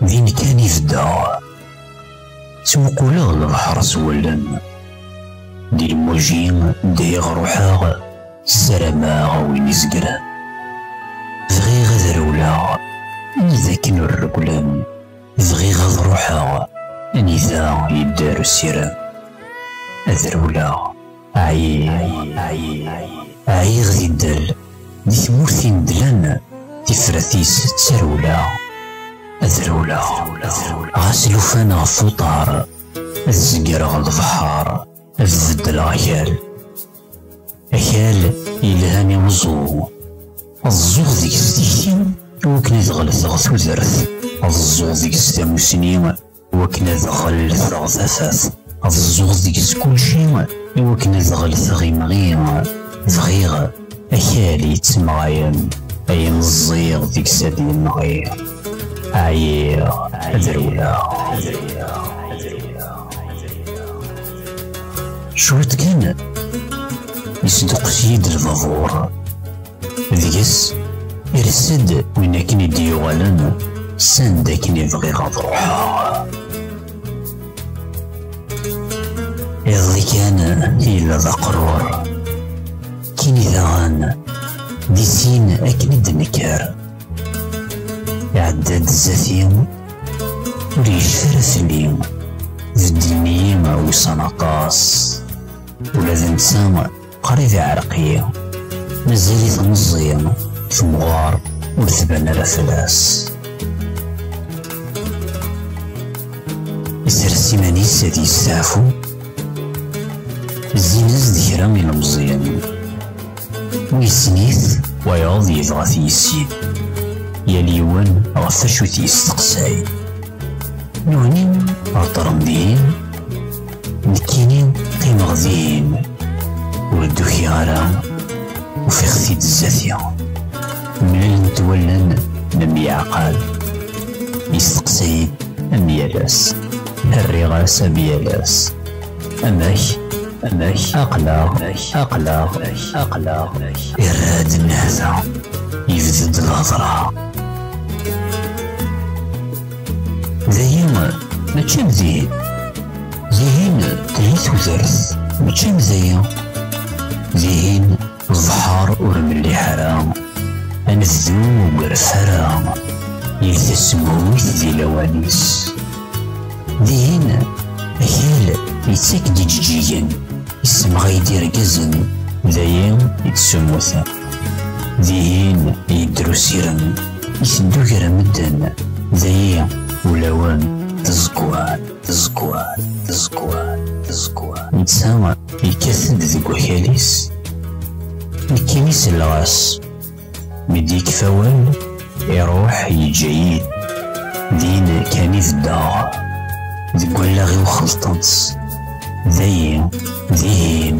Din kan i beddeɣ Ttmuquleɣ lebḥer s wallen Di lmuji deg ruḥeɣ Ssarameɣ a win izegren. Bɣiɣ ad rewleɣ, ma d akken ur rewlen. Bɣiɣ ad ruḥeɣ, anida yedder usirem. Ad rewleɣ, ɛyiɣ, ɛyiɣ di ddel, di tmurt inedlen, tifrat-is ttarewleɣ. Ad rewleɣ, ɣas lufan ɣef uṭar, ad zegreɣ lebḥer. ad beddleɣ akal akal yelhan i uẓu ad ẓẓuɣ deg-s tikti wakken ad ɣelteɣ tudert ad ẓẓuɣ deg-s tamusni wakken ad ɣelteɣ tafat ad ẓẓuɣ deg-s kulci iwakken ad ɣelteɣ imɣi bɣiɣ Akal yettemɣayen ay meẓẓiɣ deg-s ad yenɣi ɛyiɣ ad rewleɣ cwiṭ kan yesduqqes-iyi-d lbabuṛ deg-s irs-d win akken i d-yuɣalen sanda akken i bɣiɣ ad ruḥeɣ Iḍelli kan yella d aqrur. Kini daɣen di sin akken i d-nekker. Iɛedda-d zati ur yecfi ara fell-i. Beddlen-iyi ussan aṭas. Ula d netta Qrib iɛreq-iyi, mazal-it meẓẓi, temɣer ur tban ara fell-as. Isers iman-is ad yesteɛfu, zzin-as-d kra ilemẓiyen. Wissen-it, wayeḍ yebɣa t-yissin. Yal yiwen ɣef acu t-yesteqsay. Newni, heddren dihin, Nekkini qqimeɣ din ur d-ukiɣ ara ufiɣ-t-id zzati mlalent wallen n myaɛqal yesteqsa-yi-d am yal ass rriɣ-as am yal ass amek amek aqlaɣ aqlaɣ aqlaɣ irra-d nnehta yebded lhedra Dayi mačči am dihin. Dihin telhi tudert mačči am dayi. Dihin ẓẓher ur melliḥ ara. Anebdu ur yerf ara. Yir tasmuyt di lawan-is. Dihin akal yettak-d ijeǧǧigen, yessemɣay-d irgazen, dayi i d-semmuten. Dihin yedder usirem, iteddu gar medden, dayi ulawen tezkwar, tezkwar, tezkwar, tezkwar. Netta yekkat-d deg wakal-is, nekkini selleɣ-as, mi d-yekfa awal, iruḥ yeǧǧa-yi, din kan i beddeɣ, deg wallaɣ-iw xelṭen-tt, dayi, dihin.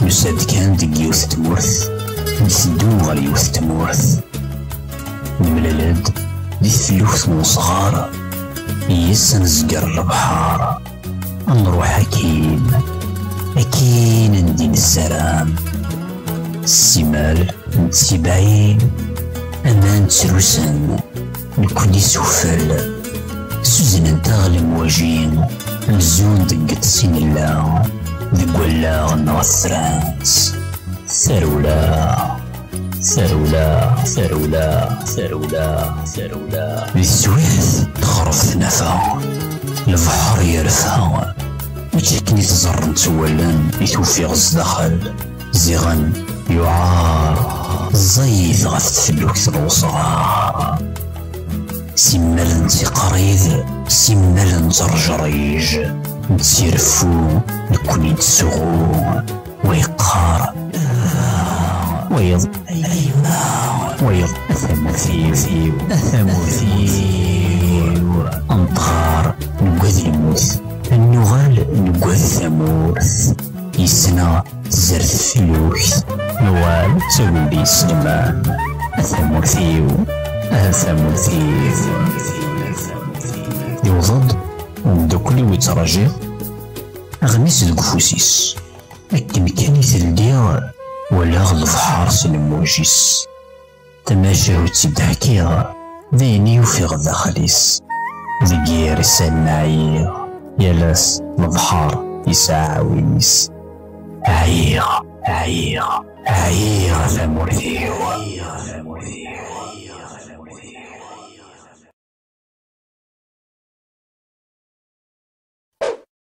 Nusa-d kan deg yiwet tmurt, nteddu ɣer yiwet tmurt. Nemlal-d di tluft n usɣar, yes ad nezger lebḥar. Ad nruḥ akin, akin andi nessaram. Simal nettibaɛin, aman ttrusen. Nekkni sufel, suznent-aɣ lemwajin, nzun deg iṭsi nella, deg wallaɣ neɣ trans. Tarewla, tarewla, tarewla, tarewla, tarewla. Di teswiɛt texref tnafa, lebḥer yerfa, mačči akken i t-ẓerren ttwallan i t-ufiɣ zdaxel. Ziɣen yuɛaṛ ẓẓayed ɣef tfellukt n wesɣaṛ. Simmal nettiqṛid, simmal nettrejṛij, nettireffu, nekkni nettsuɣu, wa yeqqaṛ aah, wayeḍ ayemma, wayeḍ a tamurt-iw, a tamurt-iw. Neṭṭaṛ, neggad lmut, nuɣal neggad tamurt. Yesna tzert tlukt. Nwal d taguldi yesleman. A tamurt-iw, a tamurt-iw. Yewweḍ-d umeddakel-iw yettṛajiɣ aɣmis deg ufus-is. Akken kan i t-ldiɣ, walaɣ lebḥer s lmuj-is. Tamacahut i d-ḥkiɣ, d ayen i ufiɣ daxel-is. Deg yir isallen ɛyiɣ, yal ass lebḥer yesɛa aɛwin-is. Ɛyiɣ, ɛyiɣ, ɛyiɣ a tamurt-iw.